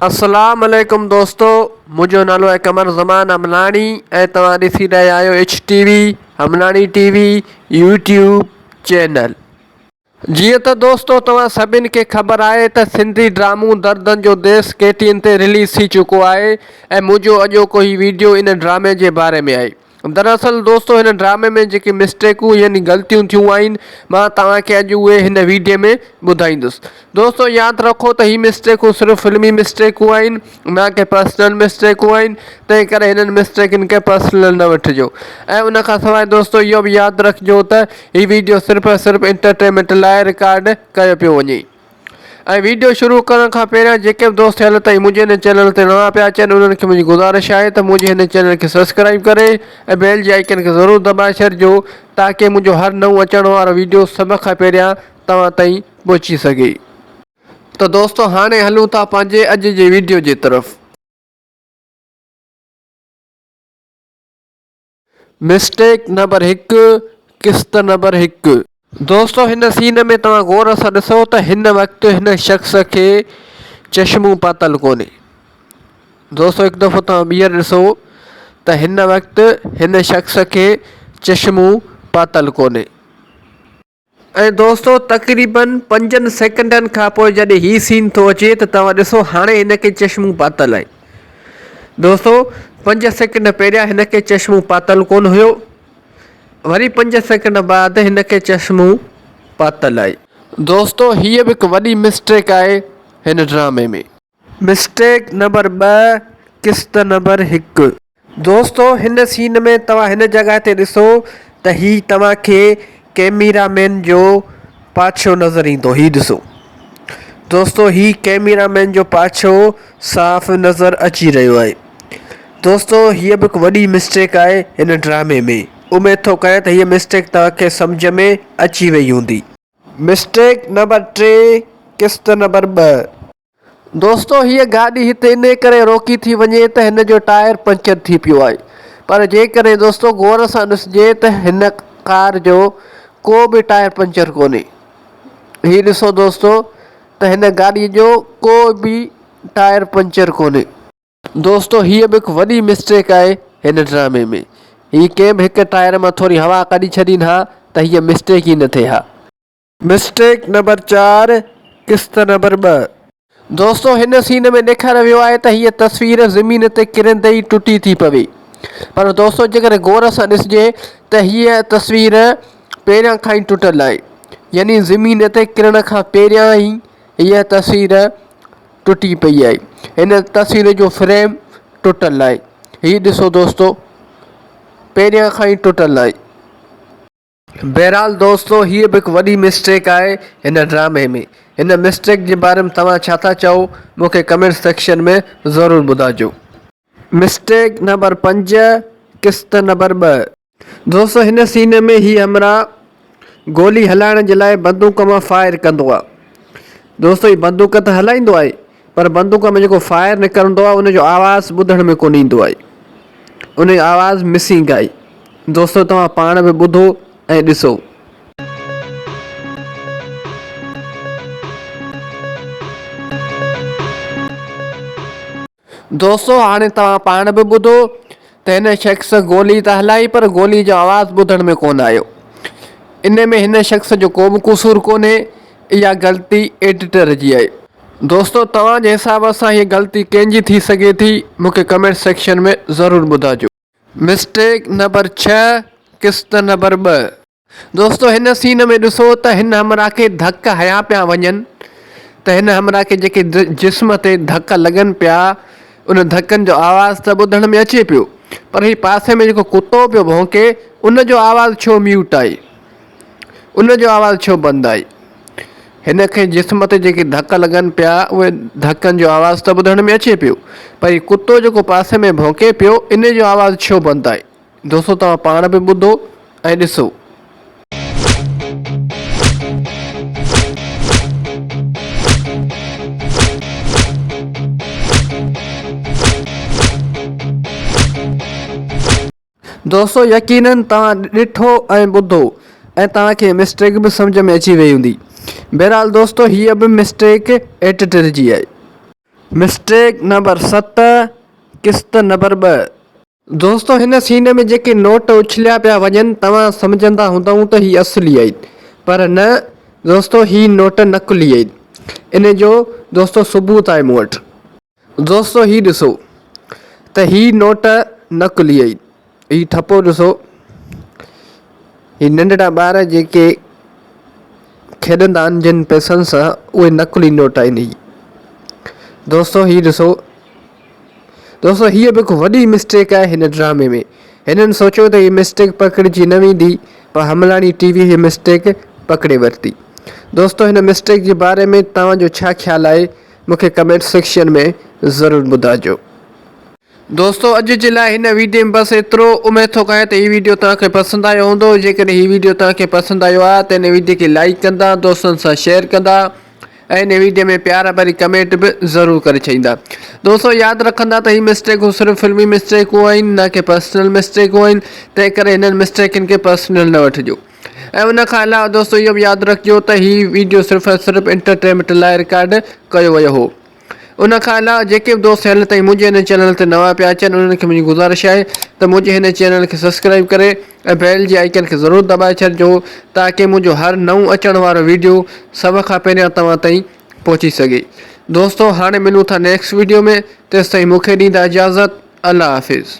اسلام عليڪم دوستو منهنجو نالو آهي قمر زمان امناڻي ۽ توهان ڏسي رهيا آهيو H T V Amnani T V YouTube channel جيئن ته دوستو توهان سڀني کي خبر آهي ته سنڌي ڊرامو دردن جو ديس ڪي ٽي اين تي رليز ٿي چڪو آهي ۽ منهنجو اڄوڪو هي ويڊيو ان ڊرامي جي باري ۾ آهي دراصل دوستو هن ڊرامي ۾ جيڪي مسٽيڪون يعني غلطيون ٿيون آهن مان توهان کي اڄ اهي هن ويڊيو ۾ ٻڌائيندس دوستو ياد رکو ته هي مسٽيڪون صرف فلمي مسٽيڪون آهن نه ڪي پرسنل مسٽيڪون آهن تنهن ڪري هنن مسٽيڪن کي پرسنل نه وٺجو ۽ ان کان سواء دوستو اهو به ياد رکجو ته هي ويڊيو صرف صرف انٽرٽينمينٽ لاء رڪارڊ ڪيو پيو وڃي ۽ ويڊيو شروع ڪرڻ کان پهريان جيڪي به دوست هل تائين منهنجي هن چينل تي نوان پيا اچن انهن کي منهنجي گذارش آهي ته منهنجي هن چينل کي سبسڪرائيب ڪري ۽ بيل جي آئيڪن کي ضرور دٻائي ڇڏجو تاڪه منهنجو هر نئون اچڻ وارو ويڊيو سڀ کان پهريان توهان تائين پهچي سگهي ته دوستو هاڻي هلون ٿا پنهنجي اڄ جي ويڊيو جي طرف. مسٽيڪ نمبر هڪ قسط نمبر هڪ. دوستو هن سين ۾ توهان غور سان ڏسو ته هن وقت هن شخص کي چشمون پاتل ڪونهي دوستو هڪ دفعو توهان ٻيهر ڏسو ته هن وقت هن شخص کي چشمون پاتل ڪونهي. ۽ دوستو تقريبن پنجن سيڪنڊن کان پوء جڏهن هي سين ٿو اچي ته توهان ڏسو هاڻي هن کي چشمون پاتل آهن دوستو پنج سيڪنڊ پهريان هن کي چشمون پاتل ڪون هيو وري پنج سيڪنڊ بعد هن کي چشمون پاتل آهي. دوستو هيء به هڪ وڏي مسٽيڪ آهي هن ڊرامي ۾. مسٽيڪ نمبر ٻه قسط نمبر هڪ. دوستو هن سين ۾ توهان هن جڳهه تي ڏسو ته هي توهان کي ڪيميرا مين جو پاڇو نظر ايندو هي ڏسو دوستو هي ڪيميرا مين جو پاڇو صاف نظر اچي رهيو آهي دوستو هي به هڪ وڏي مسٽيڪ آهي هن ڊرامي ۾ اميد ٿو ڪريان ته هي مسٽيڪ توهان کي سمجهه ۾ اچي وئي هوندي. مسٽيڪ نمبر ٽي قسط نمبر ٻه. دوستو هيء گاڏي هتي انهي ڪري روڪي ٿي وڃي ته هن جو ٽائر پنچر ٿي پيو آهي پر جيڪڏهن دوستو غور سان ڏسجي ته هن ڪار جو ڪو به ٽائر پنچر ڪونهي هي ڏسو دوستو ته هن گاڏي جو ڪو به ٽائر پنچر ڪونهي. دوستو هيء به هڪ وڏي مسٽيڪ آهي هن ڊرامي ۾ هي ڪنهن به هڪ ٽائر مان ٿوري هوا ڪڍي ڇڏين ها ته هيء مسٽيڪ ئي نه ٿئي ها. مسٽيڪ نمبر چار قسط نمبر ٻه. دوستو هن سين ۾ ڏيکاريو ويو آهي ته هيء تصوير زمين تي ڪرندي ئي ٽٽي ٿي پوي پر دوستو جيڪڏهن غور سان ڏسجي ته هيء تصوير پهريان کان ئي ٽٽل آهي يعني زمين تي ڪرڻ کان پهريان ئي هيء تصوير ٽٽي پئي آهي هن تصوير جو فريم ٽٽل آهي هي ڏسو دوستو پهريان کان ئي ٽٽل آهي بهرحال دوستو هيء به هڪ وڏي مسٽيڪ آهي هن ڊرامي ۾ هن مسٽيڪ جي باري ۾ توهان ڇا ٿا چئو مون کي ڪمينٽ سيڪشن ۾ ضرور ٻڌائجو. مسٽيڪ نمبر پنج قسط نمبر ٻه. دوستو هن سين ۾ هي همراهه گولي هلائڻ جي لاء بندوق مان فائر ڪندو آهي دوستو هي بندوق ته هلائيندو آهي پر بندوق ۾ جيڪو فائر نڪرندو آهي ان جو آواز ٻڌڻ ۾ ڪونه ايندو آهي ان جو آواز مسنگ آهي دوستو توهان پاڻ به ٻڌو ۽ ڏسو دوستو هاڻي توهان پاڻ به ٻڌو ته هن شخص گولي ته هلائي پر گولي جو آواز ٻڌڻ ۾ ڪونه آيو. ان ۾ هن شخص جو ڪو به قصور ڪونهي اها غلطي ايڊيٽر جي آهي. دوستو توهان جي حساب سان هيء غلطي ڪنهن جي ٿي سگهي ٿي مون کي ڪمينٽ سيڪشن ۾ ضرور ٻڌاجو. مسٽيڪ نمبر ڇهه قسط نمبر ٻه. دوستو هن سين ۾ ڏسو ته هن همراهه کي ڌڪ هنيا پيا وڃن ته هن همراهه کي جيڪي جسم تي ڌڪ لڳن پيا ان ڌڪن جو آواز ته ٻڌڻ ۾ اچي پيو پر هي پاسي ۾ جيڪو ڪتو پيو ڀونڪي ان جو آواز ڇو ميوٽ آهي ان جو آواز ڇو بند آهي. هن کي جسم تي جيڪي ڌڪ لڳن پيا، اهي ڌڪن جو آواز ته ٻڌڻ ۾ اچي پيو، پر هي ڪتو جيڪو پاسي ۾ ڀونڪي پيو، انهي جو آواز ڇو بند آهي؟ دوستو توهان پاڻ به ٻڌو ۽ ڏسو. دوستو يقينن توهان ڏٺو ۽ ٻڌو ۽ توهان کي مسٽيڪ به سمجهه ۾ اچي وئي هوندي. بهرحال دوستو هيء به مسٽيڪ ايڊيٽر جي آهي. مسٽيڪ نمبر ست، قسط نمبر ٻه. دوستو هن سين ۾ جيڪي نوٽ اڇليا پيا وڃن توهان سمجهندا هوندئون ته هي اصلي آهن پر نه دوستو هي نوٽ نقلي آهن. ان جو دوستو ثبوت آهي مون وٽ. دوستو هي ڏسو ته هي نوٽ نقلي ۽ هي ٺپو ڏسو هي ننڍڙا ٻار جيڪي کيڏندا آهن جن پئسن سان اهي نقلي نوٽ آهن هي دوستو هي ڏسو دوستو هيء به هڪ وڏي مسٽيڪ آهي هن ڊرامي ۾ هنن سوچيو ته هي مسٽيڪ پڪڙجي نه ويندي پر حملاڻي ٽي وي هي مسٽيڪ پڪڙي ورتي دوستو هن مسٽيڪ جي باري ۾ توهان جو ڇا خيال آهي مون کي ڪمينٽ سيڪشن ۾ ضرور ٻڌائجو. دوستو اڄ جي لاء هن ويڊيو ۾ بس ايترو. اميد ٿو ڪريان ته هي ويڊيو توهان کي پسند آيو هوندو. جيڪڏهن هي ويڊيو توهان کي پسند آيو آهي ته هن ويڊيو کي لائيڪ ڪندا، دوستن سان شيئر ڪندا ۽ هن ويڊيو ۾ پيار ڀري ڪمينٽ به ضرور ڪري ڇڏيندا. دوستو ياد رکندا ته هي مسٽيڪون صرف فلمي مسٽيڪون آهن نه ڪي پرسنل مسٽيڪون آهن تنهن ڪري هنن مسٽيڪن کي پرسنل نه وٺجو. ۽ ان کان علاوه دوستو اهو به ياد رکجو ته هي ويڊيو صرف ۽ صرف انٽرٽينمينٽ لاء رڪارڊ ڪيو ويو هو ان کان علاوه جيڪي به دوست هيل تائين منهنجي هن چينل تي نوان پيا اچن انهن کي منهنجي گذارش آهي ته منهنجي هن چينل کي سبسڪرائيب ڪري ۽ بيل جي آئيڪن کي ضرور دٻائي ڇڏجو تاڪي منهنجو هر نئون اچڻ وارو ويڊيو سڀ کان پهريان توهان تائين پهچي سگهي دوستو هاڻي ملون ٿا نيڪسٽ ويڊيو ۾ تيستائين مونکي ڏيندا اجازت الله حافظ.